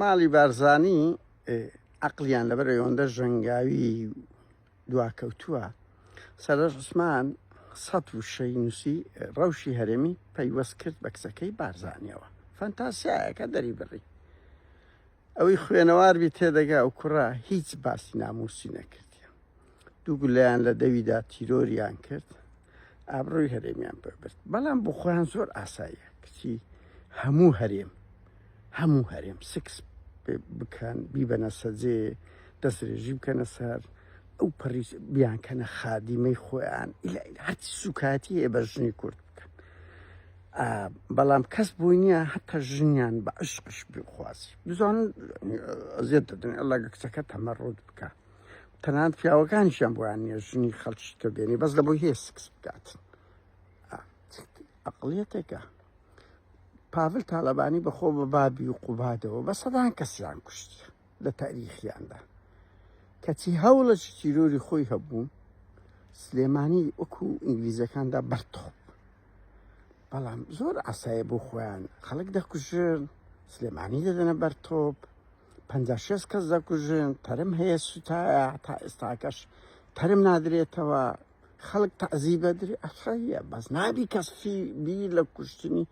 ماڵی بارزانی عقلیان لەبەر ئەوەندە ژەنگاوی دواکەوتووە سەرە عوسمان سەد وشەی نووسی ڕەوشی هەرێمی پەیوەست کرد بە کچەکەی بارزانیەوە فەنتاسیایەکە دەری بڕی ئەوەی خوێنەواربی تێدەگا و کوڕە هیچ باسی ناموسی نەکردیە دوو گولەیان لە دەویدا تیرۆریان کرد ئابڕۆی هەرێمیان پێبرد بەڵام بۆ خۆیان زۆر ئاساییە کچی هەموو هەرێم هەموو هەرێم سکس بکەن بیبەنە سەجێ دەسترێژی بکەنە سەر ئەو پەڕی بیانکەنە خادیمەی خۆیان هەرچی سوکاتی هەیە بە ژنی کورد بکەن بەڵام کەس بووی نییە هەتا ژنیان بە عشقش بخوازی بزان ئەزیێت دەدن ئەڵگە کچەکە تەمە ڕوت بکە تەنانەت پیاوەکانیشیان بۆیان نیە ژنی خەڵکی تر بێنی بەس لە بۆی هەیە سکس بکات ئەقلیەتێکە پاڤل تاالبانی بەخۆ بە بابی و قوبادەوە بە سەدان کەسیان کوشتی لە تاریخیاندا کەچی هەوڵە تیرۆری خۆی هەبوو سلێمانی وەکو ئینگلیزەکاندا بەرتۆپ بەڵام زۆر ئاسایە بۆ خۆیان خەڵک دەکوژن سلێمانی دەدەنە بەرتۆپ پەنجا شێست کەس دەکوژن تەرم هەیە سوتایە تا ئێستاکەش تەرم نادرێتەوە خەڵک تەعزی بەدری ئەخەیە بەس نابی کەس فی بی لە کوشتنی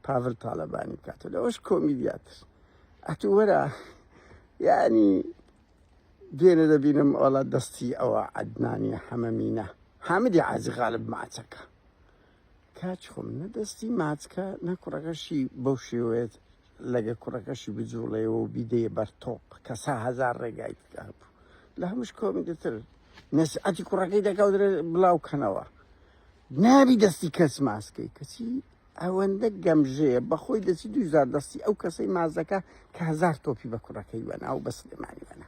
پاڤل تاالبانی بکاتە لەوەش کۆمیدیاتر ئەتو وەرە یعنی دوێنێ دەبینم ئەوڵات دەستی ئەوە عدنانی حەمەمینە حامدی عازی غالب ماچەکە کاچ خۆم نە دەستی ماچکە نە کوڕەکەشی بەو شێوەیە لەگە کوڕەکەشی بجوڵەیەوە و بیدەیە بەر تۆپ کە سا هزار ڕێگای تکە هەبوو لە هەمووش کۆمیدەتر نەسعەتی کوڕەکەی دەکەوترێ بڵاو کەنەوە نابی دەستی کەس ماسکەی کەچی ئەوەندە گەمژەیە بەخۆی دەچی دوزار دەستی ئەو کەسەی مازەکە کە هزار تۆپی بە کوڕەکەی وەنا و بە سلێمانی وەنا